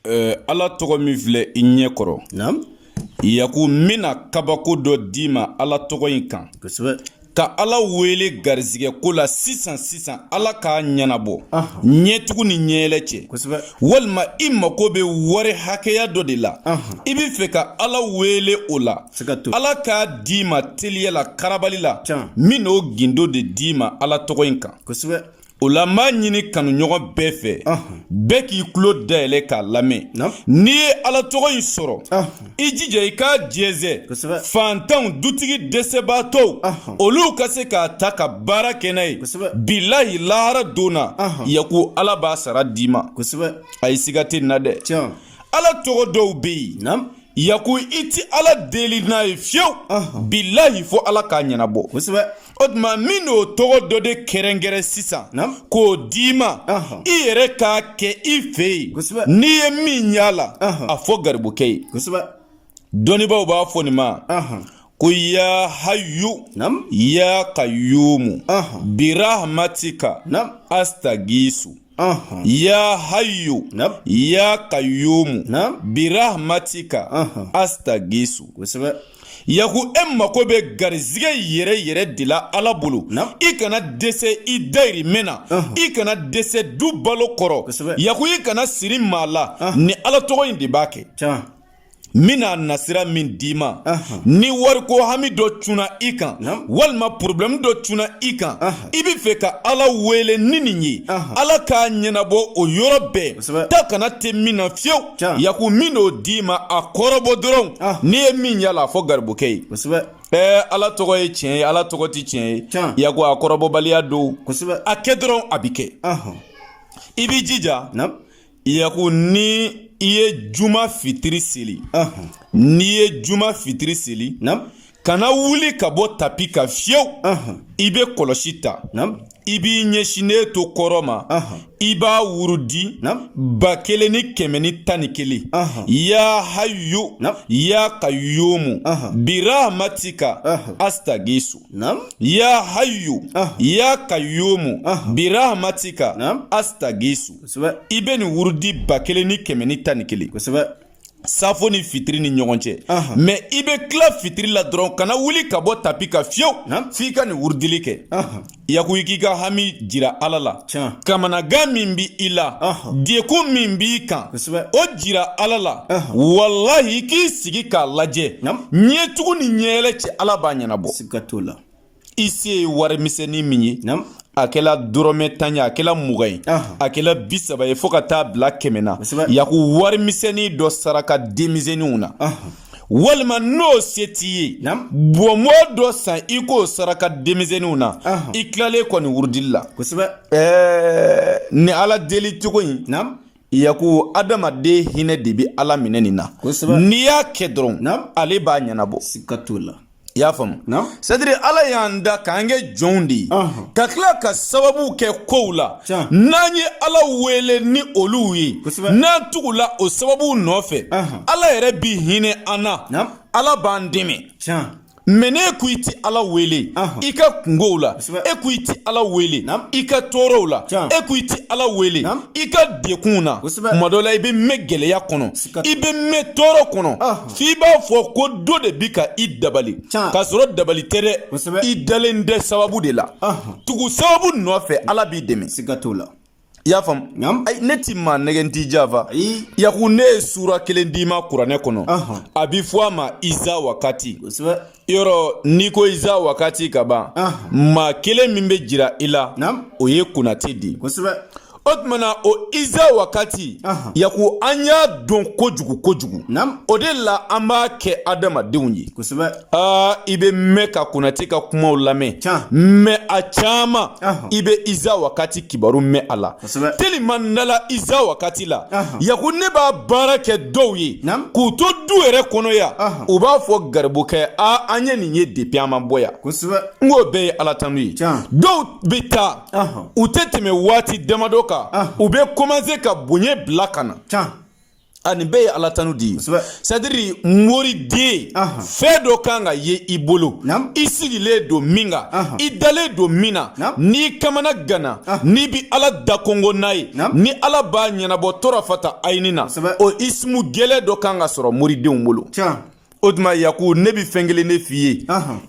Ɛɛ ala tɔgɔ min filɛ i ɲɛ kɔrɔ yaku n bɛna kabako dɔ d'i ma ala tɔgɔ in kan ka ala wele garisɛgɛ ko la sisan sisan ala k'a ɲɛnabɔ ɲɛtugu ni ɲɛyɛlɛ cɛ walima i mako bɛ wari hakɛya dɔ de la i bɛ fɛ ka ala wele o la ala k'a d'i ma teliya la karabali la n bɛn'o gundo de d'i ma ala tɔgɔ in kan o la n b'a ɲini kanuɲɔgɔn bɛɛ fɛ bɛɛ k'i tulo dayɛlɛ k'a lamɛn n'i ye ala tɔgɔ in sɔrɔ i jija i k'a jɛnsɛn faantanw dutigi dɛsɛbaatɔw olu ka se k'a ta ka baara kɛ n'a ye bilahi lahara don na yaku ala b'a sara d'i ma a ye siga tɛ nin na dɛ ala tɔgɔ dɔw bɛ yen yaku i ti ala deli n'a ye fiyewu bilahi fo ala k'a ɲɛnabɔ kosɛbɛ o tuma n bɛn'o tɔgɔ dɔ de kɛrɛnkɛrɛn sisan k'o d'i ma i yɛrɛ k'a kɛ i fɛ yen n'i ye min y'a la a fɔ garibukɛ ye kosɛbɛ dɔnnibaaw b'a fɔ nin ma ko ya hayu ya kayumu birahmatika astagisu Aha. ya hayu Naamu. ya kayumu Naamu. birahmatika Aha. astagisu kosɛbɛ yaku e mako bɛ garizigɛ yɛrɛ yɛrɛ de la ala bolo Naamu. i kana dɛsɛ i dayirimɛ na Aha. i kana dɛsɛ du balo kɔrɔ Kosɛbɛ. yaku i kana siri maa la Aha. ni ala tɔgɔ in de b'a kɛ can n bɛna nasira min d'i ma ni wariko hami dɔ cunna i kan walima porobilɛmu dɔ cunna i kan i bɛ fɛ ka ala wele ni nin ye ala k'a ɲɛnabɔ o yɔrɔ bɛɛ taa ka na tɛ min na fiyewu yaku n bɛn'o d'i ma a kɔrɔbɔ dɔrɔn n'i ye min y'a la a fɔ garibukɛ ye ɛɛ ala tɔgɔ ye tiɲɛ ye ala tɔgɔ tɛ tiɲɛ ye yaku a kɔrɔbɔbaliya don a kɛ dɔrɔn a bɛ kɛ i b'i jija Yaku ni i ye juma fitiri seli n'i ye juma fitiri seli kana wuli ka bɔ tapi kan fiyewu i bɛ kɔlɔsi ta i b'i ɲɛsinnen to kɔrɔn ma i b'a wurudi ba kelen ni kɛmɛ ni tan ni kelen ya hayu ya kayumu birahmatika astagisu ya hayu ya kayumu birahmatika astagisu kosɛbɛ i bɛ nin wurudi ba kelen ni kɛmɛ ni tan ni kelen kosɛbɛ safo ni fitiri ni ɲɔgɔn cɛ mɛ i bɛ tila fitiri la dɔrɔn kana wuli ka bɔ tapi kan fiyewu f'i ka nin wurudili kɛ yaku i k'i ka hami jira ala la kamanagan min b'i la degun min b'i kan o jira ala la walahi i k'i sigi k'a lajɛ ɲɛtugu ni ɲɛyɛlɛ cɛ ala b'a ɲɛnabɔ i se ye warimisɛnnin min ye a kɛla dɔrɔmɛ tan ye a kɛla mugan ye a kɛla bi saba ye fɔɔ ka taa bila kɛmɛ na yaku warimisɛnnin dɔ saraka denmisɛnninw na walima n'o se t'i ye bɔnbɔn dɔ san i k'o saraka denmisɛnninw na i tilalen kɔ nin wurudili la ni ala deli cogo in yaku adamaden hinɛ de bɛ ala minɛ nin na n'i y'a kɛ dɔrɔn ale b'a ɲɛnabɔ siga t'o la i y'a faamu sadiri ala y'an da k'an kɛ jɔnw de ye ka tila ka sababu kɛ kow la n'an ye ala wele ni olu ye n'an tugula o sababu nɔfɛ ala yɛrɛ bi hinɛ an na ala b'an dɛmɛ mɛ n'e ko i ti ala wele i ka kungow la e ko i ti ala wele i ka tɔɔrɔw la e ko i ti ala wele i ka dekunw na tuma dɔ la i bɛ mɛn gɛlɛya kɔnɔ i bɛ mɛn tɔɔrɔ kɔnɔ f'i b'a fɔ ko dɔ de bi ka i dabali k'a sɔrɔ dabali tɛ dɛ i dalen tɛ sababu de la tugu sababu nɔfɛ ala b'i dɛmɛ siga t'o la i y'a faamu ne ti maa nɛgɛn t'i janfa yaku ne ye sura kelen d'i ma kuranɛ kɔnɔ a bi fɔ a ma iza wakati yɔrɔ n'i ko iza wakati ka ban maa kelen min bɛ jira i la o ye konate di o tuma na o iza wakati yaku an y'a dɔn kojugu kojugu o de la an b'a kɛ adamadenw ye aa i bɛ mɛn ka konate ka kumaw lamɛn mɛ a caman i bɛ iza wakati kibaru mɛn a la telima nala iza wakati la yaku ne b'a baara kɛ dɔw ye k'u to du yɛrɛ kɔnɔ yan u b'a fɔ garibukɛ a an ye nin ye depi an ma bɔ yan n k'o bɛɛ ye ala tanu ye dɔw bɛ taa u tɛ tɛmɛ waati damadɔ kan u bɛ kɔmanse ka bonya bila ka na a nin bɛɛ ye ala tanu de ye sadiri moriden fɛn dɔ kan ka ye i bolo i sigilen don min kan i dalen don min na n'i kamanagana n'i bi ala da kɔngɔn n'a ye ni ala b'a ɲɛnabɔ torafata ayini na o isimu gɛlɛn dɔ kan ka sɔrɔ moridenw bolo o tuma yaku ne bɛ fɛn kelen de f'i ye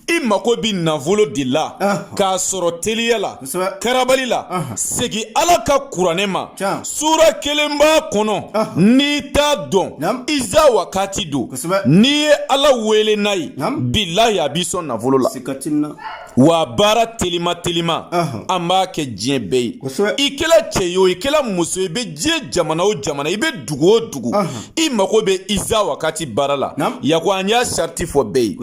i mako bɛ nafolo de la k'a sɔrɔ teliya la karabali la segin ala ka kuranɛ ma sura kelen b'a kɔnɔ n'i t'a dɔn iza wakati don n'i ye ala wele n'a ye bilahi a b'i sɔn nafolo la wa baara telima telima an b'a kɛ diɲɛ bɛɛ ye i kɛra cɛ ye o i kɛra muso i bɛ diɲɛ jamana o jamana i bɛ dugu o dugu i mago bɛ iza wakati baara la yaku an y'a sariti fɔ bɛɛ ye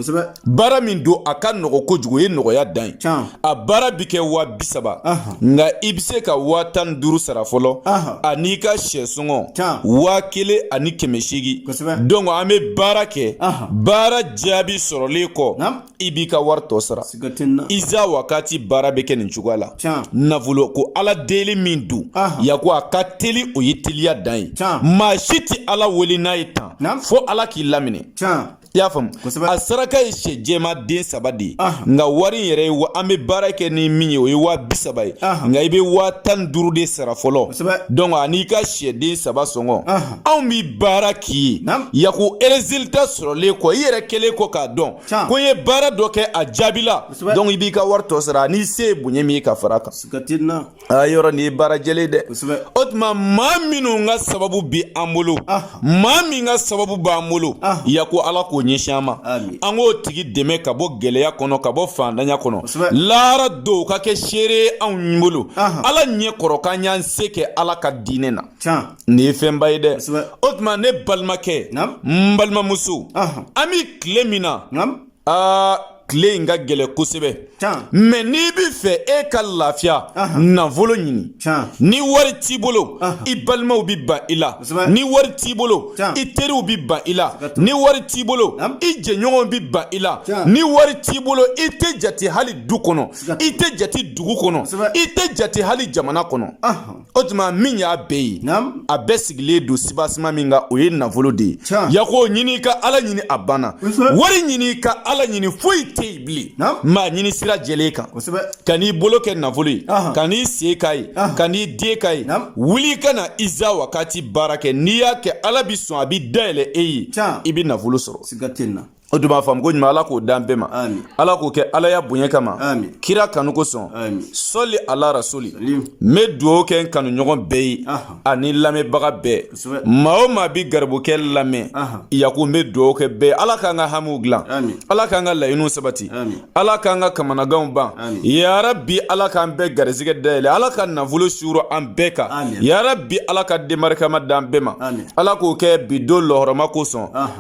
baara min don a ka nɔgɔ kojugu ye nɔgɔya dan ye a baara bɛ kɛ waa bi saba nka i bɛ se ka waa tan ni duuru sara fɔlɔ an'i ka syɛ sɔngɔ waa kelen ani kɛmɛ seegin dɔnki an bɛ baara kɛ baara jaabi sɔrɔlen kɔ i b'i ka wari tɔ sara iza wakati baara bɛ kɛ nin cogoya la nafolo ko ala deli min don yako a ka teli o ye teliya dan ye maa si tɛ ala wele n'a ye tan fo ala k'i laminɛ i y'a faamu a saraka ye sɛ jɛma den saba de ye nka wari in yɛrɛ ye an bɛ baara kɛ ni min ye o ye waa bi saba ye nka i bɛ waa tan ni duuru de sara fɔlɔ donc an'i ka sɛ den saba sɔngɔ anw bɛ baara k'i ye yako erezilita sɔrɔlen kɔ i yɛrɛ kɛlen kɔ k'a dɔn ko ye baara dɔ kɛ a jaabila donc i b'i ka wari tɔ sara n'i se ye bonya min ye ka fara kan a yɔrɔ nin ye baara jɛlen dɛ o tuma maa minnu ka sababu bi an bolo maa min ka sababu b'an bolo yako ala k'o ɲɛsin an ma an k'o tigi dɛmɛ ka bɔ gɛlɛya kɔnɔ ka bɔ fandanya kɔnɔ lahara don ka kɛ seere ye anw bolo ala ɲɛ kɔrɔ k'an y'an se kɛ ala ka diinɛ na Nin ye fɛnba ye dɛ o tuma ne balimakɛ n balimamuso an bɛ tile min na aa tile in ka gɛlɛ kosɛbɛ mɛ n'i b'a fɛ e ka lafiya nafolo ɲini ni wari t'i bolo i balimaw bɛ ban i la ni wari t'i bolo i teriw bɛ ban i la ni wari t'i bolo i jɛɲɔgɔnw bɛ ban i la ni wari t'i bolo i tɛ jate hali du kɔnɔ i tɛ jate dugu kɔnɔ i tɛ jate hali jamana kɔnɔ o tuma min y'a bɛɛ ye a bɛɛ sigilen don sibasima min kan o ye nafolo de ye yako ɲini ka ala ɲini a banna wari ɲini ka ala ɲini foyi tɛ yen bilen mɛ a ɲini sira jɛlen kan kan'i bolo kɛ nafolo ye kan'i sen k'a ye kan'i den k'a ye wuli ka na iza wakati baara kɛ n'i y'a kɛ ala bi sɔn a bi dayɛlɛ e ye i bɛ nafolo sɔrɔ o dun b'a faamu ko ɲuman ala k'o d'an bɛɛ ma ala k'o kɛ ala ya bonya kama kira kanu kosɔn sɔli ala rasuli n bɛ dugawu kɛ n kanuɲɔgɔn bɛɛ ye ani lamɛnbaga bɛɛ maa o maa bi garibukɛ lamɛn yako n bɛ dugawu kɛ bɛɛ ala k'an ka hamiw dilan ala k'an ka laɲiniw sabati ala k'an ka kamanaganw ban yarabi ala k'an bɛɛ garizigɛ dayɛlɛ ala ka nafolo suuru an bɛɛ kan yarabi ala ka den barikama d'an bɛɛ ma ala k'o kɛ bi don lɔhɔrɔma kosɔn